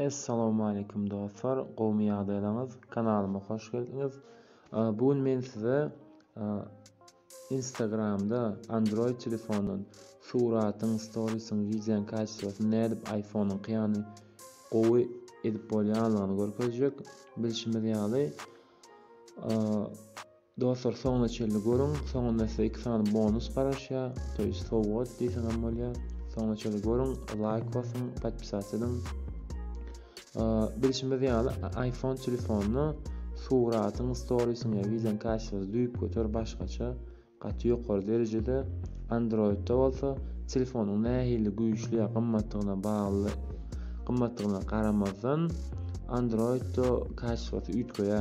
Essalamualeýkum dostlar gowmy ýagdaýlaňyz kanalyma hoş geldiňiz bu gün men size instagramda android telefondan suratyň storisyň wideoň kaçyrasyny nädip iphone ýany gowy edip bolýanlygyny görkezjek bilşimiz ýaly Dostlar soňuna çenli görüň soňunda size iki sany bonus garaşýa to ýest sowgat diýseňem bolýa soňuna çenli görüň laýk basyň podpisat ediň bilşimiz ýaly iPhone telefonyna suratyň storisyň ýa wideoň kaçysyny düýp göter başgaça gaty ýokary derejede Androidda bolsa telefonyň nähili güýçli ýa gymmatdygyna bagly gymmatdygyna garamazdan Androidda kaçysy üýtgeýä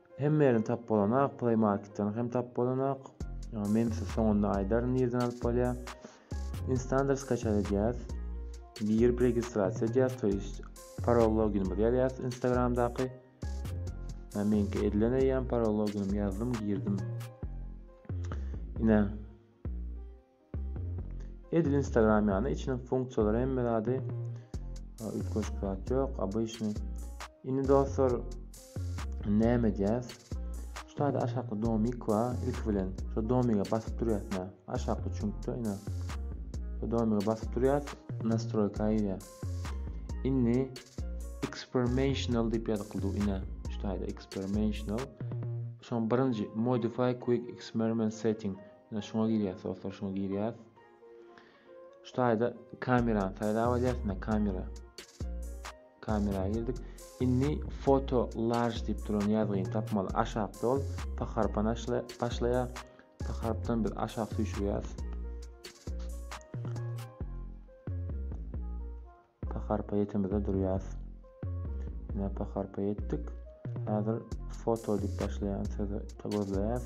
Hemme ýerden tap bolanok, Play Marketden hem tap bolanok. Ýa men size soňunda aýdaryn nirden alyp bolýar. Instander skaçar edýäs. Girip registrasiýa edýäs, to ýest parol loginimizi ýazýas Instagramdaky. Men meňki edilen eýýäm parol loginimi ýazdym, girdim. Ine. Edil Instagram ýaly içiniň funksiýalary hemme zady üýtgeşik zat ýok, obyçny. Indi dostlar näme edýäs? Şu taýda aşakda domik bar. Ilki bilen şu domige basyp durýarsyň. Aşakda çüňkde ine. Şu domige basyp durýarsyň. Nastroýka girýär. Indi experimental diýip ýazyklydy ine. Şu taýda experimental. Şoň birinji modify quick experiment setting. Ine şuňa girýäs dostlar, şuňa girýäs. Şu taýda kamerany saýlap alýas, ine kamera. Kamera girdik. Indi foto large diýip duran ýazgyny tapmaly. Aşak dol, paharpan başlaýa. Paharpdan biz aşak süýşürýäs. Paharpa ýetemizde durýas. Ine paharpa ýetdik. Häzir foto diýip başlaýan sözi gözleýäs.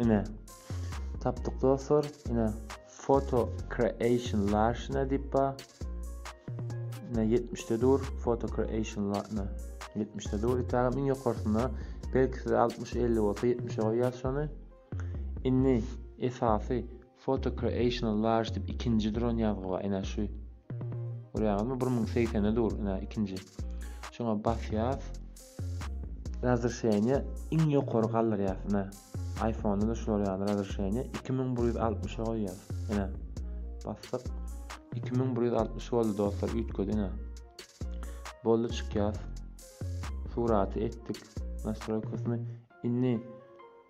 Ine. Tapdyk dostlar. Ine Photo Creation Larşina diýip ba. Ine 70-de dur. Photo Creation Larşina 70-de dur. Itägem iň ýokarsynda. Belki size 60-50 bolsa 70-e goýýas şony. Indi esasy Photo creational large dip ikinji duran ýazgy bar ine şu görýäňizmi bir müň segsende dur ine ikinji şoňa basýas razrşeniýe iň ýokary galdyrýas ine iphone da şular ýaly razrşeniýe iki müň bir ýüz altmyşa goýýas ine basdyk iki müň bir ýüz altmyş boldy dostlar üýtgedi ine boldy çykýas suraty etdik nastroýkasyny indi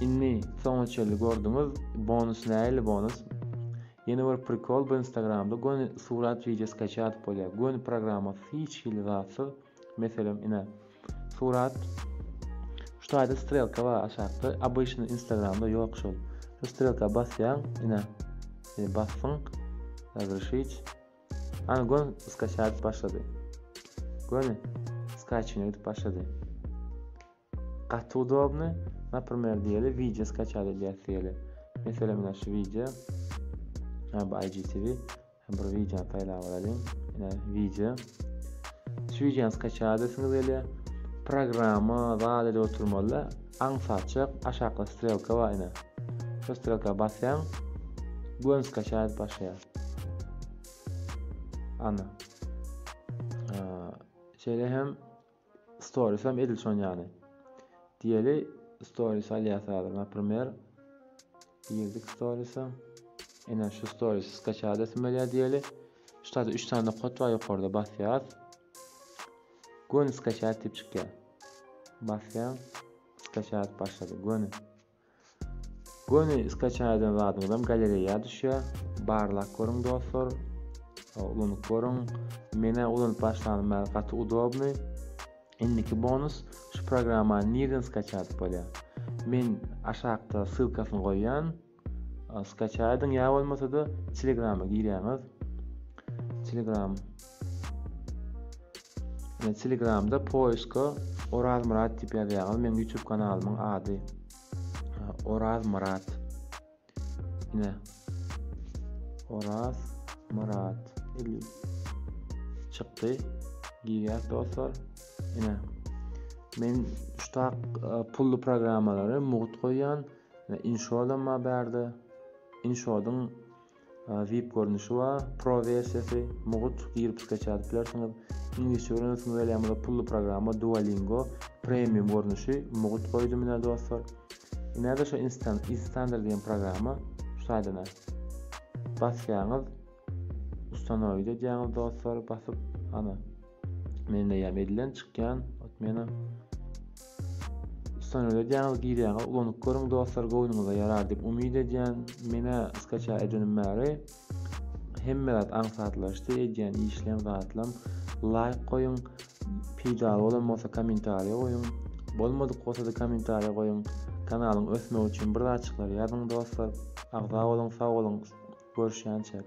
Inni soňa çenli gördüňiz bonus näili bonus Ýene bir prikol bu instagramda göni surat wideo skaçat bolýar göni programmasyz hiç hili zatsyz meselem ine surat şu taýda strelka bar aşakda abyşny instagramda ýok şol şu strelka basýaň ine e, basdyň razrişiç ana gön skaçat başlady göni skaçine gidip başlady Gaty udobny, naprimer diýeli wideo skaçat edýäs diýeli. Meselem ine şu wideo. Ha bu IGTV. Hem bir wideony saýlap alalyň. Ine wideo. Şu wideony skaçat edesiňiz gelýär. Programma zat edip oturmaly. Aňsatjak aşakda strelka bar ine. Şu strelka basýaň. Gön skaçat edip başlaýar. Ana. Şeýle hem Stories hem edil şon ýany. Diýeli stories alýas häzir naprimer. Girdik stories'a. Ene şu stories skaça edesim gelýär diýeli. Şu taýda 3 sany kod bar ýokarda basýas. Göni skaça diýip çykýar. Basýan skaça başlady. Göni. Göni skaçan eden zadyňyzam galereýa düşýär. Barlap görüň dostlar. Ulanyp görüň. Menä ulanyp başlanym bäri gaty udobny. Indiki bonus şu programmany nirden skaçat bolýar? Men aşakda ssylkasyny goýýan. Skaçaýdyň ýa bolmasa-da Telegrama girýäňiz. Telegram Men telegramda poiska orazmyrat diýip ýazýaňyz meň youtube kanalymyň ady orazmyrat ine oraz myrat çykdy girýäs dostlar ine men şutak e, pully programmalary mugt goýýan inshodam bar bärde inshodyň Vip görnüşi bar, Pro wersiýasy, mugt, girip skeç ýazyp bilersiňiz. Iňlisçe öwrenesiňiz gelýär bolsa pully programma Duolingo, Premium görnüşi, mugt goýdum ine dostlar. Inede şo instant, instander diýen programma şu saýdana basýaňyz, ustanoýit edýäňiz dostlar basyp, ana. Men de ýam edilen çykýan. Ot meni. Son öde diýäňiz girýäňiz. Ulanyp görüň dostlar göwnüňize ýarar diýip umyt edýän. Menä skaça edinim bäri. Hemme zat aňsatlaşdy. Edýän işlem zatlam. Laýk goýuň. Peýdaly bolan bolsa kommentariýa goýuň. Bolmadyk bolsa da kommentariýa goýuň. Kanalyň ösmegi üçin bir zatçyklar ýazyň dostlar. Agza boluň, sag boluň. Görüşýänçäk.